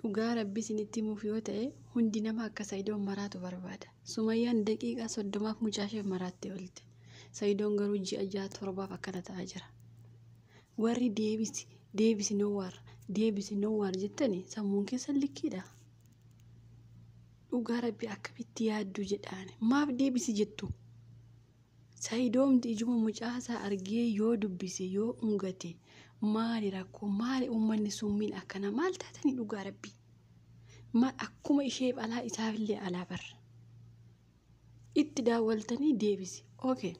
Dhugaa rabbii isinitti himuuf yoo ta'e hundi nama akka sa'idoon maraatu barbaada. Sumayyaan daqiiqaa soddomaaf mucaasheef maraattee oolte. Sa'idoon garuu ji'a ja'a torbaaf akkana ta'aa jira. Warri deebisi deebisi nowwaar deebisi nowwaar jettani sammuun keessan likkiidha. Dhugaa rabbii akkamitti yaadduu jedhaani maaf deebisi jettu? Sayidoomti ijuma mucaasaa argee yoo dubbise yoo ungate maali rakkoo maali uummanni summiin akkana maal taatanii dhugaa rabbii maal akkuma isheef alaa isaafillee alaa bar itti daawwaltanii deebise okay.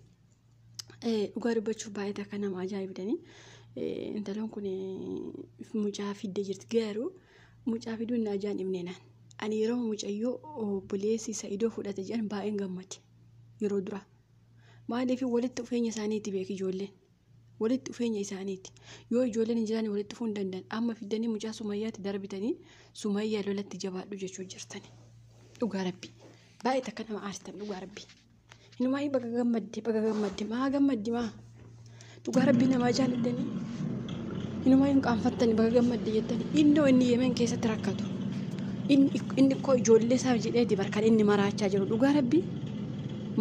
dhugaa dubbachuuf baay'ee takka nama ajaa'ibdanii intalon kun mucaa fidde jirti garuu mucaa fiduun na ajaa'ibneenaan ani yeroo mucayyoo obboleessi sa'idoo fudhate jedhan baay'een gammade. yeroo duraa. Maaliif walitti dhufeenya isaaniiti beeki ijoolleen. Walitti dhufeenya isaaniiti. Yoo ijoolleen hin jiraanne walitti dhufuu hin danda'an. Amma fiddanii mucaa sumayyaatti darbitanii sumayyaa lolatti jabaadhu jechuu jirtani. Dhugaa rabbi. Baay'ee takka nama aarsitan dhugaa rabbi. Hinumaa baga gammadde baga gammadde maa gammaddi maa. Dhugaa rabbii namaa jaalattanii inumaa hin qaanfattanii baga gammadde jettanii innoo inni yemen keessatti rakkatu inni koo ijoollee isaa jedheeti barkan inni maraachaa jiru dhugaa rabbii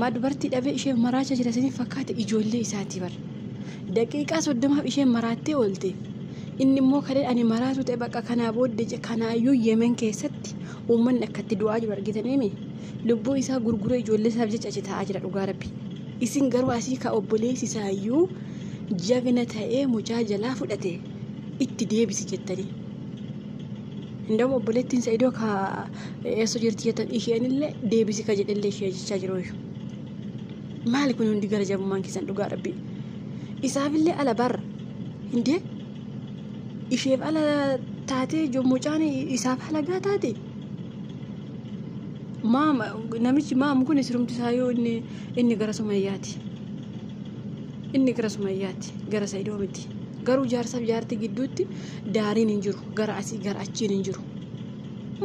maa dubartii dhabee ishee maraachaa jira isiniif fakkaate ijoollee isaatii bar daqiiqaa soddomaaf ishee maraattee oolte inni immoo kalee ani maraatu ta'e bakka kanaa booddee je kanaayyuu yemen keessatti uummanni akkatti du'aa jiru argitaniimi lubbuu isaa gurguree ijoollee isaaf jecha achi taa'aa jira dhugaa rabbii. Isin garuu asii ka obboleessi isaayyuu jagna ta'ee mucaa jalaa fudhate itti deebisi jettanii. Indawwa obboleettiin sa'idoo ka eessa jirti jettan isheenillee deebisi ka jedhellee ishee jechaa jiru. Maali kun hundi gara jabummaan keessan dhugaa rabbi. Isaafillee ala barra. Hindee isheef ala taatee jo mucaan isaaf halagaa taate. Maam namichi maam kun sirumti isaa yoo inni Inni gara Sumayyaati. Inni gara Sumayyaati. Gara Sa'idoo miti. Garuu jaarsaaf jaartii gidduutti daariin hin jiru. Gara asii gara achiin hin jiru.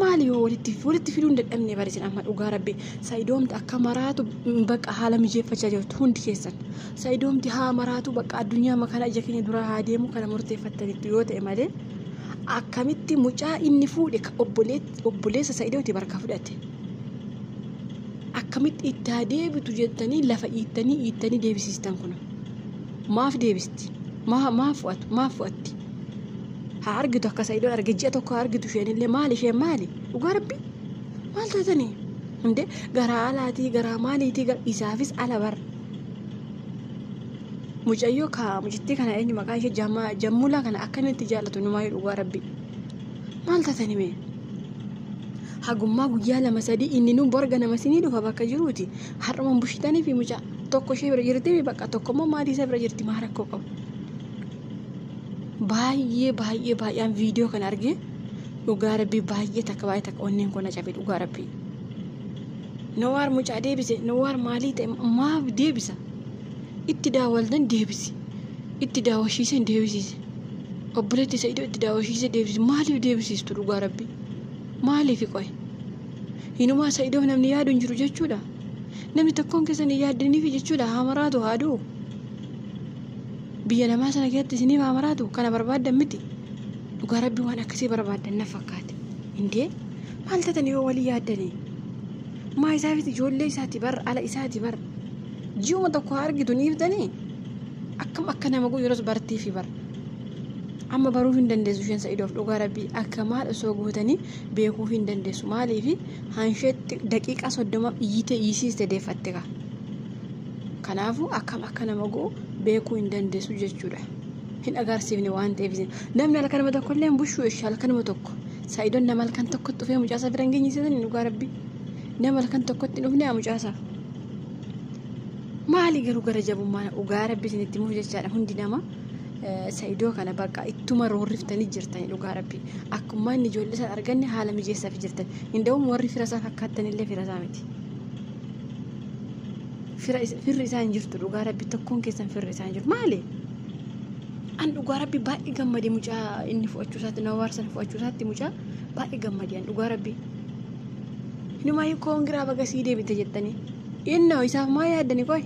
Maali yoo walitti walitti fiduu hin dadhabne barisin amma dhugaa rabbi sa'idoomti akka maraatu bakka haala mijeeffachaa jirtu hundi keessan sa'idoomti haa maraatu bakka addunyaa makana ija keenya duraa haa deemu kana murteeffattanitti yoo ta'e malee akkamitti mucaa inni fuudhe ka obboleet- obboleessa sa'idooti barka fudhate akkamitti itti haa deebitu jettanii lafa iittanii iittanii deebisiistan kuna maaf deebisti maaf fu'atu maaf fu'atti haa argitu akka sa'idoon arge ji'a tokko haa argitu isheen illee maali isheen maali dhugaa rabbi maal taatanii hundee garaa alaatii garaa maaliitii isaafis ala bar mucayyoo kaa mucittii kana eenyu maqaa ishee jammulaa kana akkamitti jaallatu numaa dhugaa rabbi Maal tatani mee? Hagummaa guyyaa lama sadii inni nuun borga nama sinii dhufa bakka jiruuti. Har'uman bushitanii fi mucaa tokko ishee bira jirti fi bakka tokko immoo maatii isaa bira jirti maa rakkoo qabu. Baay'ee baay'ee baay'aan viidiyoo kana argee dhugaa rabbii baay'ee takka baay'ee takka onneen koo na cabe dhugaa rabbii. Nawaar mucaa deebise nawaar maalii ta'e maaf deebisa? Itti daawwaltan deebisi. Itti daawwashiisan deebisiise. obboleetti isa idoo itti daawashiise deebisi maaliif deebisiistu dhugaa rabbi maaliif qoy hinumaa isa idoo namni yaadu hin jiru jechuudha namni tokkoon keessan hin yaaddiniif jechuudha haa maraatu haa du'u biyya namaa sana keessatti isiniif haa maraatu kana barbaaddan miti dhugaa rabbi waan akkasii barbaaddan na fakkaate indee maal tatanii yoo walii yaaddanii maa isaafiti ijoollee isaati bar ala isaati bar ji'uma tokko haa argitu ni ibdanii Akkam akka nama godhu yeroos bartii fi bara. Amma baruu hin dandeessu isheen sa'idoof dhugaa rabbii akka maal osoo gootanii beekuu hin dandeessu maaliif hansheetti daqiiqaa soddoma iyyitee iyyisiiste deeffatte kaa. Kanaafuu akkam akka nama go'u beekuu hin dandeessu jechuudha. Hin agarsiifne waan ta'eef isin. Namni halkan nama tokko illee hin bushuu ishee halkan nama tokko. Saayidoon nama halkan tokkotti dhufee mucaasaa bira hin geenye isin dhugaa rabbi. Nama halkan tokkotti hin dhufne mucaasaa. maali garuu gara jabummaan dhugaa rabbi isinitti muuf jechaadha hundi nama sa'idoo kana bakka ittuma roorriftanii jirtanii dhugaa rabbi akkuma inni ijoollee isaa arganne haala mijeessaaf jirtan hinda'uun warri fira isaa fakkaattanillee fira isaa miti firri isaa hin jirtu dhugaa rabbi tokkoon keessan firri isaa hin jiru maali an dhugaa rabbi baay'ee gammade mucaa inni fudhachuu isaatti nama waarsan fudhachuu isaatti mucaa baay'ee gammade an dhugaa rabbi Inumaa koongiraa baga sii deebite jettanii. Innoo isaaf maa yaaddani qoy?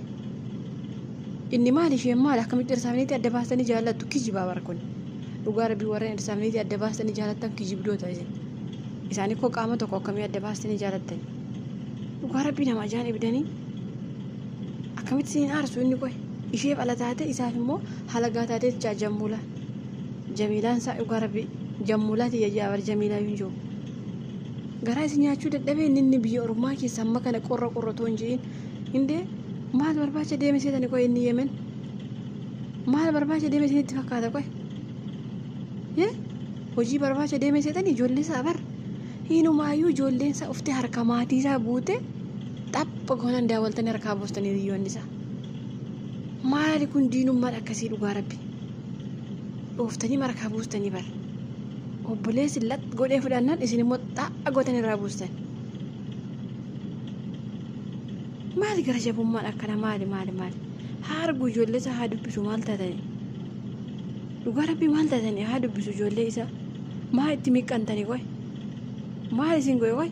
Inni maal isheen maal akkamitti irsaafiniitti adda baastanii jaallattu kijibaa bara kun. Dhugaa rabbii warreen irsaafiniitti adda baastanii jaallattan kijibdoota isin. Isaan koo qaama tokko akkamii adda baastanii jaallattan. Dhugaa rabbii nama ajaan ibidanii akkamitti siin aarsu inni qoy? Isheef ala taate isaaf immoo halagaa taatee jaa jammuulaa. Jamiilaan isaa dhugaa rabbii jammuulaa tiyya jaa bara jamiilaa hin jiru. Garaa isin nyaachuu dadhabee inni inni biyya ormaa keessa amma kana qorra qorra otoo hin je'in. Indee maal barbaacha deeme seetani qoy inni yemen. Maal barbaacha deeme isinitti fakkaata qoy. Yee hojii barbaacha deeme seetani ijoollee isaa bar. Hinumaayyuu ijoolleen isaa uftee harka maatii isaa guute xapha goonan daawwaltanii harkaa boostanii hiriyoonni isaa. Maali kun diinummaan akkasii dhugaa rabbi. dhooftanii markaa buustanii bar obboleessi lat godhee fudhannaan isin immoo xaa'a gootan irraa buustan maali gara jabummaan akkana maali maali maali haa arguu ijoollee isaa haa dubbisu maal taatanii dhugaa rabbii maal taatanii haa dubbisu ijoollee isaa maa itti miqqantanii qoy maal isin goe qoy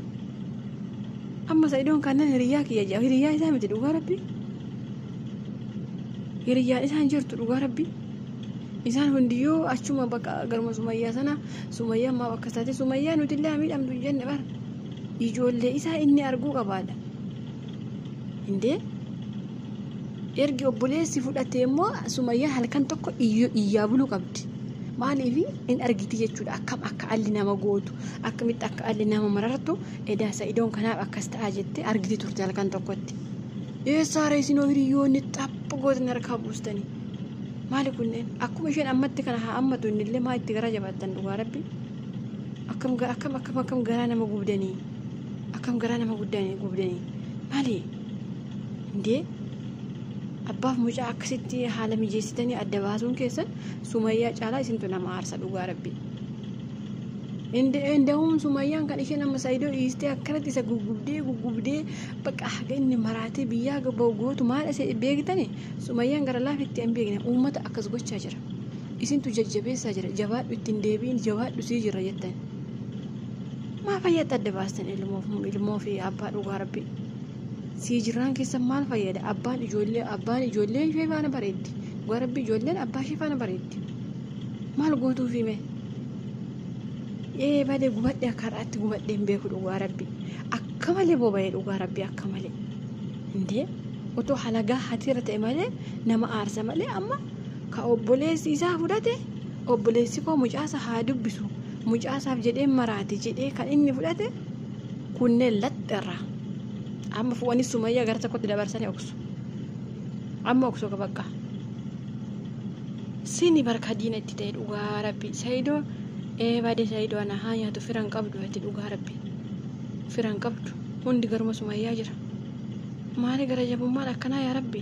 amma sa'idoon kannan hiriyyaa kiyya jedha hiriyyaa isaa miti dhugaa rabbii hiriyyaan isaan jirtu dhugaa rabbii Isaan hundiyyuu achuma bakka garuma Sumayyaa sana Sumayyaan maaf akkas taate Sumayyaa nuti illee miidhamtu hin jenne bar ijoollee isaa inni arguu qabaadha. Indee ergi obboleessi fudhate immoo Sumayyaa halkan tokko iyyaa buluu qabdi. Maaliif in argiti jechuudha akkam akka alli nama gootu akkamitti akka alli nama marartu edaa sa'idoon kanaaf akkas ta'a jettee argiti turte halkan tokkotti. Eessaara isinoo hiriyoonni xapha gootni harkaa buustanii. Maali kunneen akkuma isheen ammatti kana haa ammatu innillee maa itti garaa jabaattan dhugaa rabbi akkam ga- akkam akkam akkam garaa nama gubdanii akkam garaa nama guddanii gubdanii maali indee abbaaf mucaa akkasitti haala mijeessitanii adda baasuun keessan sumayyaa caalaa isintu nama aarsa dhugaa rabbi Inda'uun sumayyaan kan isheen amma saayidoo dhiistee akkanatti isa gugubdee gugubdee bakka haga inni maraatee biyyaa gabba'u gootu maal isa beektani Sumayyaan gara laafetti hin beekne uummata akkas gochaa jira. Isintu jajjabeessaa jira. Jabaadhu ittiin deebiin jabaadhu sii jira jettan. Maa fayyatti adda baastan ilmoof ilmoo fi abbaa dhugaa rabbi. Sii jiraan keessa maal fayyada? Abbaan ijoollee abbaan ijoollee ishee faana bareeddi. Dhugaa rabbi ijoolleen abbaa ishee faana bareeddi. Maal gootuu fi mee? Ee malee gubadhe akka har'aatti gubadhe hin beeku dhugaa rabbi. Akka malee boba'ee dhugaa rabbi akka malee. Indee otoo halagaa hatira ta'e malee nama aarsa malee amma ka obboleessi isaa fudhate obboleessi koo mucaasa haa dubbisu mucaasaaf jedhee maraate jedhee kan inni fudhate kunneen laxxarra amma fu'anii sumayyaa gara tokkotti dabarsanii oksu amma oksu bakka sini barka diina itti ta'e dhugaa rabbi sayidoo ee baade sayidoo ana haa nyaatu firan qabdu ati dhugaa rabbi firan qabdu. Hundi garuma sumayyaa jira. Maali gara jabummaan akkanaa yaa rabbi.